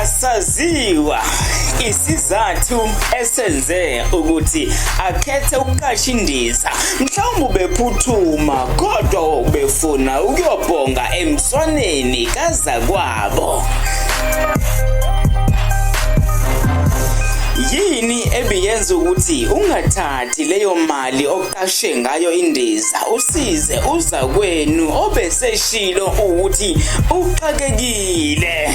Asaziwa isizathu esenze ukuthi akhethe ukuqasha indiza mhlawumbe ubephuthuma kodwa ubefuna ukuyobhonga emswaneni kazakwabo yini ebiyenza ukuthi ungathathi leyo mali qashe ngayo indiza usize uzakwenu obeseshilo ukuthi uxakekile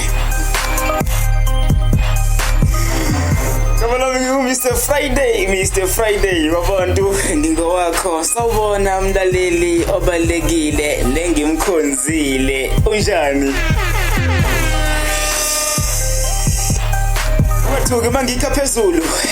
Kabalami ngiwu-Mr Friday Mr Friday babantu ngingowakho sawubona mlaleli obalekile lengimkhonzile unjani Wathuke mangikha phezulu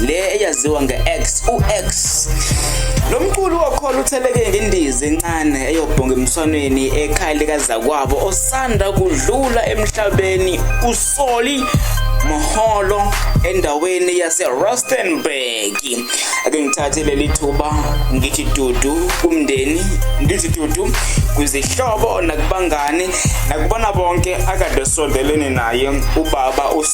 le eyaziwa nge-X u-X lo mculi wokholo utheleke ngendiza encane eyobhonga emswanweni ekhaya likazakwabo osanda kudlula emhlabeni usoli Moholo endaweni yaseRustenburg ake ngithathe leli thuba ngithi dudu kumndeni ngithi dudu kwizihlobo nakubangani nakubona bonke akade sondelene naye ubaba us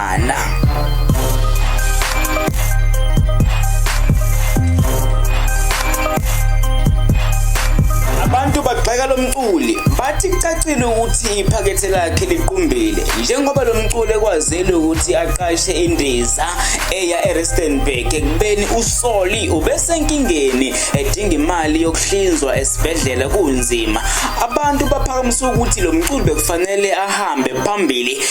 Ana. Abantu bagxeka lo mculi bathi kucacile ukuthi iphakethe lakhe liqumbile njengoba lo mculi ekwazile ukuthi aqashe indiza eya eRistenburg ekubeni uSoli ubesenkingeni edinga imali yokuhlinzwa esibhedlela kunzima abantu baphakamisa ukuthi lo mculi bekufanele ahambe phambili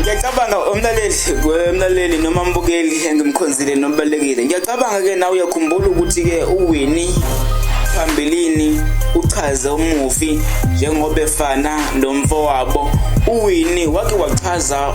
ngiyacabanga umlaleli umlaleli noma mbukeli engimkhonzile nobalekile ngiyacabanga ke nawe uyakhumbula ukuthi ke uwini phambilini uchaze umufi njengoba efana nomfowabo uwini wake wachaza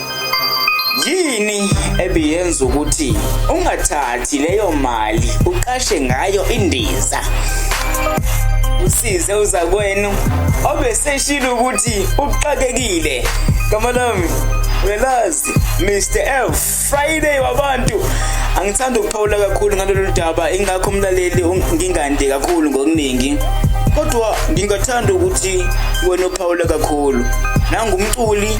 Yini ebiyenza ukuthi ungathathi leyo mali uqashe ngayo indiza? Usize uzakwenu obeseshilo ukuthi uxakekile. Gama lami uyalazi Mr F Friday wabantu angithanda ukuphawula kakhulu ngalolu daba ingakho umlaleli ngingande kakhulu ngokuningi kodwa ngingathanda ukuthi wena uphawula kakhulu nangumculi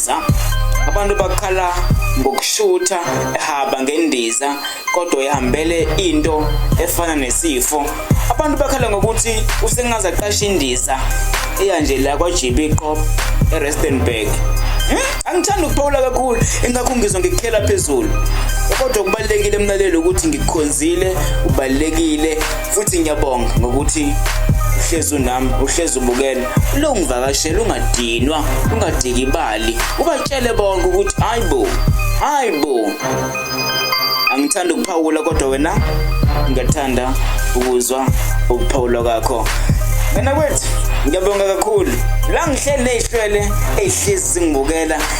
ngendiza abantu bakhala ngokushutha ehaba ngendiza kodwa ihambele into efana nesifo abantu bakhala ngokuthi usengaze aqashe indiza eya nje la kwa-gb qop erustenburg hmm? angithandi ukuphawula kakhulu engakho ngizwa ngikukhela phezulu kodwa kubalulekile emlaleli ukuthi ngikukhonzile ubalulekile futhi ngiyabonga ngokuthi uhlezi unami uhlezi ubukela longivakashela ungadinwa ungadikibali ubatshele bonke ukuthi hayibo hayibo angithanda ukuphawula kodwa wena ngiyathanda ukuzwa ukuphawula kwakho wena kwethu ngiyabonga kakhulu la ngihleli nezihlwele ezihlezi zingibukela